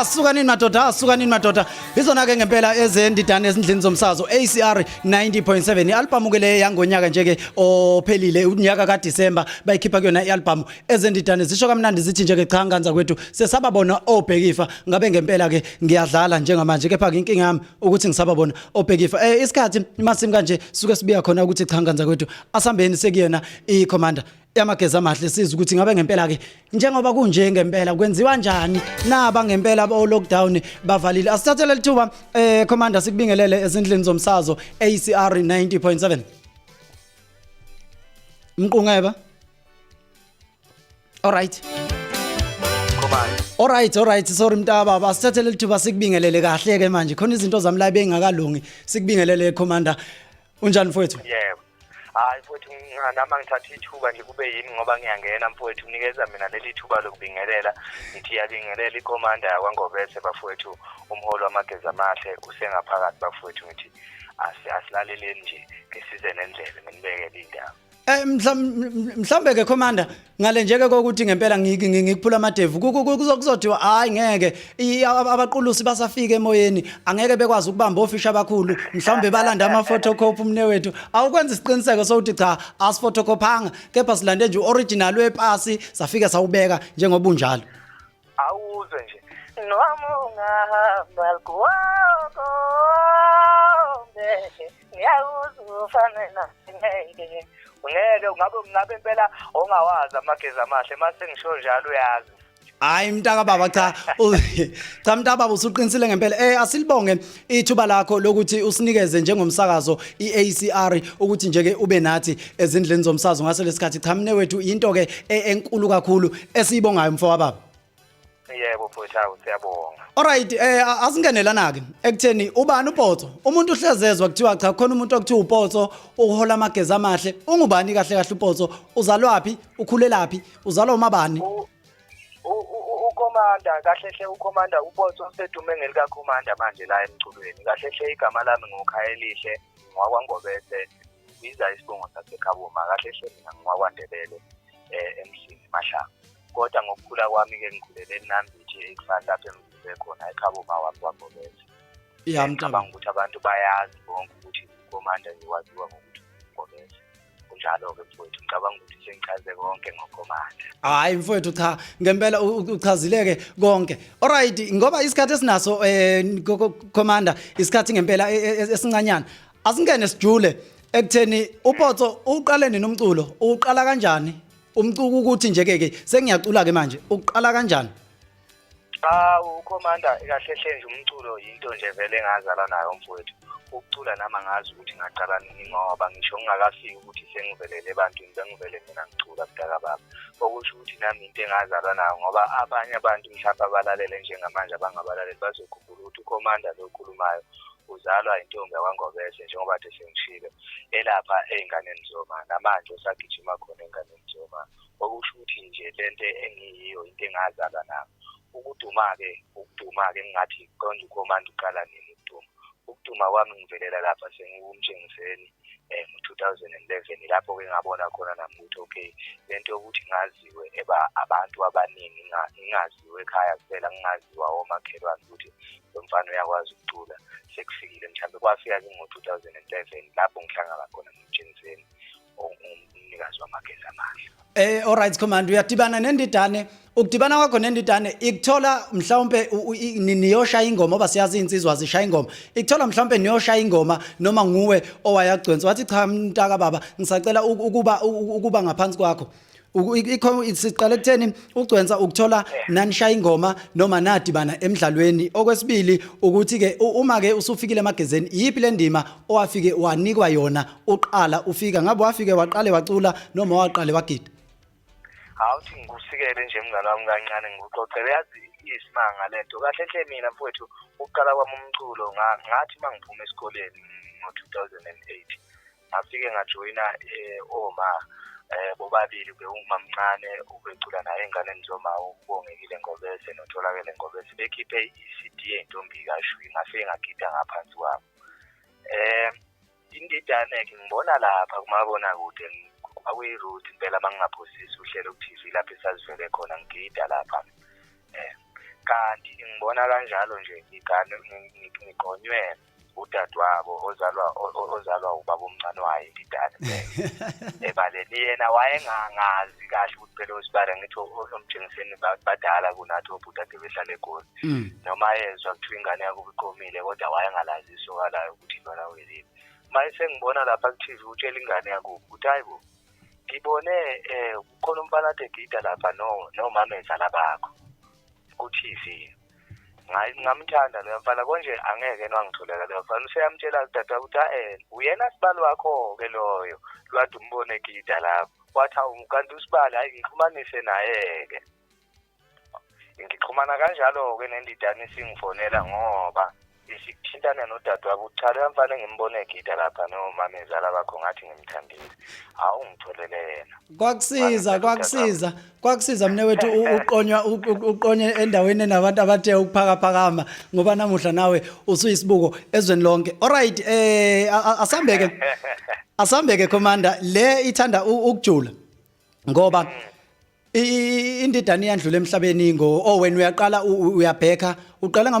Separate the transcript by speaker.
Speaker 1: asukanini madoda asukanini madoda izona ke ngempela ezendidane ezindlini zomsazo ACR 90.7 ialbum ke le yangonyaka nje ke ophelile unyaka ka December bayikhipha kuyona ialbum ezendidane zisho kamnandi zithi nje ke cha nganza kwethu sesababona obhekifa ngabe ngempela ke ngiyadlala njengamanje kepha ke inkinga yami ukuthi ngisababona obhekifa eh isikhathi imasim kanje suke sibiya khona ukuthi cha nganza kwethu asambeni sekuyena i commander yamageza amahle siza ukuthi ngabe ngempela ke njengoba kunje ngempela kwenziwa njani naba ngempela bo lockdown bavalile asithathele lithuba eh commander sikubingelele ezindlini zomsazo ACR 90.7 Mqungeba alright Alright alright sorry mntaba basithathele lithuba sikubingelele kahle ke manje khona izinto zami la bengakalungi sikubingelele commander unjani mfowethu Yebo
Speaker 2: hayi mfowethu nami angithatha ithuba nje kube yimi ngoba ngiyangena mfowethu unikeza mina leli thuba lokubingelela ngithi yabingelela ikomanda yakwangobese bafowethu umholi wamageza amahle usengaphakathi bafowethu ngithi asilaleleni nje ngisize nendlebe nginibekele indaba Eh mhlam-
Speaker 1: mhlambe ke commander ngale nje ke kokuthi ngempela ngi- ngi- ngikuphula amadevu ku- ku- ku- kuzo- kuzothiwa hayi ngeke i- ab- abaqulusi basafika emoyeni angeke bekwazi ukubamba ofisha abakhulu mhlawumbe balanda ama photocopy umnewethu awukwenza isiqiniseko sokuthi cha asiphotocophanga kepha silande nje original wepasi safike sawubeka njengoba unjalo awuzwe
Speaker 2: nje noma ungahamba lgwoko ngeke ngiyakuza ufane nangeke ungeke ungabe ngabe impela ongawazi amagezi amahle mase ngisho njalo uyazi hayi mntaka
Speaker 1: baba cha cha mntaka baba usuqinisile ngempela eh asilibonge ithuba lakho lokuthi usinikeze njengomsakazo iACR ukuthi nje ke ube nathi ezindleni zomsazo ngase lesikhathi cha mne wethu into ke e- enkulu kakhulu esiyibongayo mfo wababa yebo
Speaker 2: futhi awu siyabonga Alright eh a-
Speaker 1: asingenelana ke ekutheni ubani upotso umuntu uhlezezwa kuthiwa cha khona umuntu okuthiwa upotso uhola amageza amahle ungubani kahle kahle upotso uzalwaphi ukhulelaphi uzalwa umabani U- ukhomanda
Speaker 2: kahle hle ukhomanda ubotho osedume ngelikakhomanda manje la emculweni kahle hle igama lami ngukhayelihle ngwakwangobese biza isibongo sasekhaboma kahle hle mina ngwakwandebele um eh, emsini mahlanga kodwa ngokukhula kwami-ke ngikhulele enambithi ekufani lapho engizise khona ekhaboma wami kwangobese yamcabanga
Speaker 1: ukuthi abantu
Speaker 2: bayazi bonke ukuthi ukhomanda ngiwaziwa ngokuthi ngobese kunjalo-ke mfowethu ngicabanga ukuthi sengichaze konke ngokomandla hayi mfowethu cha
Speaker 1: ngempela uchazileke konke alright ngoba isikhathi esinaso um commander isikhathi ngempela e, e, e, esincanyana asingene sijule ekutheni upotso uqale nini umculo uqala kanjani umcuku ukuthi nje-ke-ke sengiyacula-ke manje uqala kanjani Cha ukhomanda
Speaker 2: kahle hle nje umculo yinto nje vele engazala nayo mfowethu. Ukucula nami angazi ukuthi ngaqala nini ngoba ngisho ngingakafiki ukuthi sengivelele ebantwini bengivele mina ngicula mdaka baba. Okusho ukuthi nami into engazalwa nayo ngoba abanye abantu mhlawumbe abalalele njengamanje abangabalaleli bazokhumbula ukuthi ukhomanda lo okhulumayo uzalwa intombi yakwangobese njengoba kade sengishilo elapha ey'nganeni zoma namanje usagijima khona ey'nganeni zoma okusho ukuthi nje lento engiyiyo into engazalwa nayo ukuduma-ke ukuduma-ke engingathi konje ukhomanda uqala nini ukuduma ukuduma kwami ngivelela lapha sengiwumtshengiseni um ngo-two thousand and eleven lapho-ke ngabona khona nami ukuthi okay le nto yokuthi ngaziwe eba abantu abaningi ngingaziwe ekhaya kuphela ngingaziwa omakhelwane ukuthi lo mfana uyakwazi ukucula sekufikile mhlawumbe kwafika-ke ngo-two thousand and eleven lapho ngihlangana khona nomtshengiseni ongumnikazi wamagezi amahle Eh alright command
Speaker 1: uyadibana nendidane ukudibana kwakho nendidane ikuthola mhlawumbe u- u- i- ni- niyoshaya ingoma oba siyazi insizwa zishaya ingoma ikuthola mhlawumbe niyoshaya ingoma noma nguwe owayagcwensa wathi cha mntaka baba ngisacela u- ukuba u- u- ukuba ngaphansi kwakho siqale kutheni ugcwensa ukuthola nanishaya ingoma noma nadibana emdlalweni okwesibili ukuthi ke uma ke usufikile emagezeni yipi lendima owafike wanikwa yona uqala ufika ngabe wafike waqale wacula noma waqale wagida awuthi
Speaker 2: ngikusikele nje mngane wami kancane ngikuxoxele yazi isimanga lento kahle hle mina mfowethu ukuqala kwami umculo ngathi mangiphume esikoleni ngo 2008 ngafike ngajoyina um oma um bobabili bewumamncane ubecula naye enganeni zomawo ubongekile ngobese notholakele ngobese bekhiphe i-cd yentombi kashwi ngafike ngagida ngaphansi kwabo um indidane-ke ngibona lapha kumabonakude kwakuyi-root impela uma ngingaphosisi uhlelo ku-tv lapho esazivele khona ngigida lapha um kanti ngibona kanjalo nje ngigonywe udadewabo ozalwa ozalwa ubaba omncane wayo indidane ebaleni yena wayengangazi kahle ukuthi phela osibara ngithi omjengiseni badala kunathi obhuti ade behlala egoli mm. noma yezwa kuthiwa ingane yakuba iqomile kodwa wayengalazi isoka layo ukuthi intwana welile uma esengibona lapha ku-tv utshela ingane yakubo ukuthi hayi bo ngibone um kukhona umfana ade gida lapha nomamezala bakho ku-tv ngayi ngamthanda leyo mfana konje angeke nwangitholela leyo mfana useyamtshela udade wakho ukuthi ael uyena sibali wakho-ke loyo lwade umbone egida lapho wathi awu kanti usibali hhayi ngixhumanise naye-ke ngixhumana kanjalo-ke nendidane isingifonela ngoba sithintana nodadewabo ukuthi cha loya mfana engimbona egida lapha nomama ezala bakho ngathi ngimthandile hawu ngitholele yena kwakusiza kwakusiza kwakusiza mne wethu
Speaker 1: uqonywa uqonye endaweni enabantu abathe ukuphakaphakama ngoba namuhla nawe usuyisibuko ezweni lonke alright eh asambeke asambeke commander le ithanda ukujula ngoba mm. indidane yandlula emhlabeni ngo owen oh, uyaqala uyabheka uqala